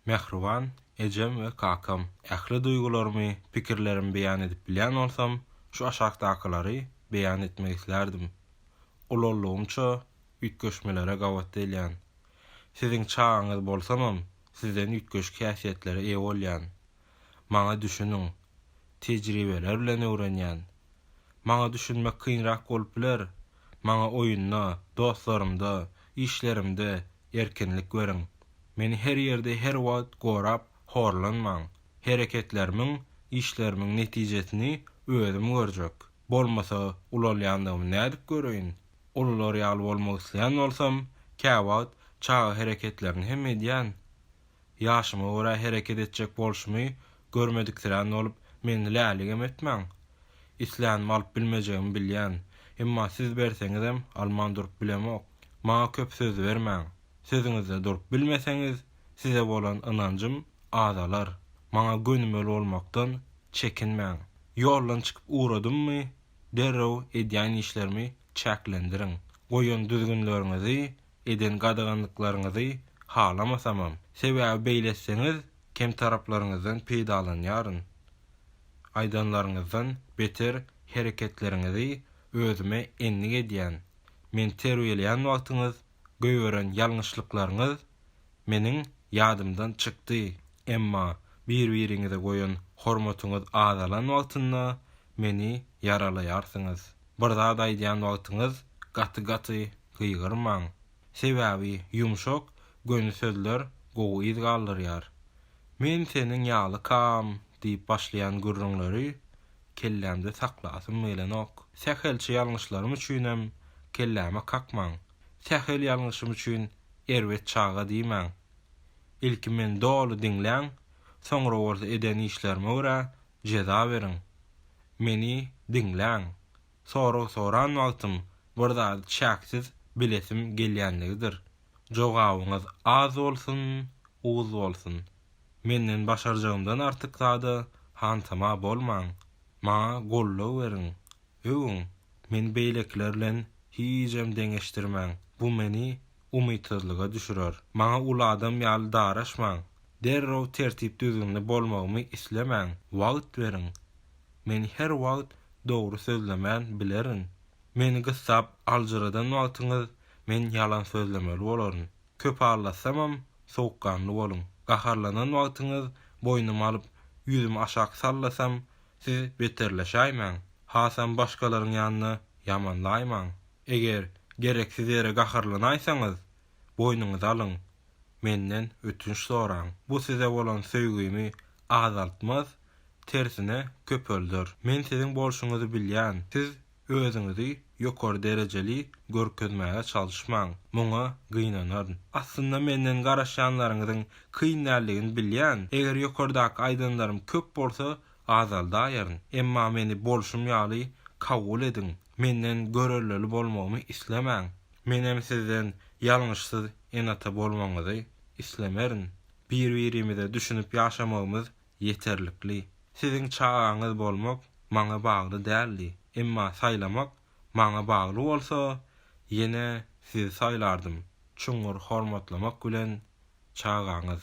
Mähriban ejem we kakam. Ähli duýgularymy, pikirlerimi beýan edip bilýän bolsam, şu aşakdakylary beýan etmek islärdim. Ululygymça üýtgeşmelere gabat gelýän. Siziň çagaňyz bolsamam, sizden üýtgeşik häsiýetlere eýe bolýan. Maňa düşüniň. Tejribeler bilen öwrenýän. Maňa düşünmek kynrak bolup biler. Maňa oýunda, dostlarymda, işlerimde, erkinlik beriň. Meni her ýerde her wagt gorap horlanmaň. Hereketlerimiň, işlerimiň netijesini özüm görjek. Bolmasa ulalýandygymy nädip göreýin? Ulular ýaly bolmak isleýän bolsam, käwagt çaga hereketlerini hem edýän. Ýaşyma görä hereket etjek bolşumy görmediksirän bolup, meni läligem etmäň. Islänimi alyp bilmejegimi bilýän. Emma siz berseňizem alman durup bilemok. Maňa köp söz bermäň. Sözüňizde durup bilmeseňiz, size bolan ynanjym azalar. Maňa gönümel bolmakdan çekinmäň. Ýoldan çykyp ugradymmy, derrew edýän işlerimi çäklendiriň. Goýan düzgünleriňizi eden gadaganlyklaryňyzy halamasamam, sebäbi beýletseňiz kem taraplaryňyzdan peýdalanýaryn. Aýdanlaryňyzdan beter hereketleriňizi özüme endik edýän, meni terbiýeleýän wagtyňyz goýberen ýalňyşlyklaryňyz meniň ýadymdan çykdy, emma bir-biriňize goýan hormatyňyz azalan wagtynda meni ýaralaýarsyňyz. Bir zat aýdýan wagtyňyz gaty-gaty gygyrmaň. Sebäbi ýumşak, göni sözler gowy yz galdyrýar. Men seniň ýalykam diýip başlaýan gürrüňleri kellämde saklasym gelenok. Sähelçe ýalňyşlarym üçinem kelläme kakmaň. Sähel ýalňyşym üçin erbet çaga diýmäň. Ilki meni doly diňläň, soňra bolsa eden işlerime görä jeza beriň. Meni diňläň. Sorag soran wagtym bir zady çäksiz bilesim gelýänligidir. Jogabyňyz az bolsun, uz bolsun. Menden başarjagymdan artyk zada hantama bolmaň. Maňa goldaw beriň. Öwüň. Meni beýlekiler bilen hijem deňeşdirmäň. Bu meni umytsyzlyga düşürer. Maňa uly adam ýaly daraşmaň, derrew tertip-düzgünli bolmagymy islemäň, wagt beriň. Men her wagt dogry sözlemän bilerin. Meni gyssap aljyradan wagtyňyz men ýalan sözlemeli bolaryn. Köp allatsamam, sowukganly boluň. Gaharlanan wagtyňyz boýnum alyp, ýüzüm aşak sallasam, siz beterleşäýmäň. Hasam başgalaryň ýanynda ýamanlaýmaň. Eger gereksiz ýere gaharlanaýsaňyz, boýnuňyza alyň, menden ötünç soraň. Bu size bolan söýgimi azaltmaz, tersine köpelder. Men siziň bolşuňyzy bilýän, siz özüňizi ýokary derejeli görkezmäge çalyşmaň, muňa gynanaryn. Aslynda menden garaşýanlaryňyzyň kyn däldigini bilýän, eger ýokardaky aýdanlarym köp bolsa, azaldaýaryn. Emma meni bolşum ýaly kabul ediň, Menden görellili bolmagymy islemäň. Menem sizden ýalňyşsyz ene-ata bolmagyňyzy islemerin. Bir-birimize düşünip ýaşamagymyz ýeterlikli. Siziň çagaňyz bolmak maňa bagly däldi. Emma saýlamak maňa bagly bolsa, ýene sizi saýlardym. Çuňňur hormatlamak bilen, çagaňyz.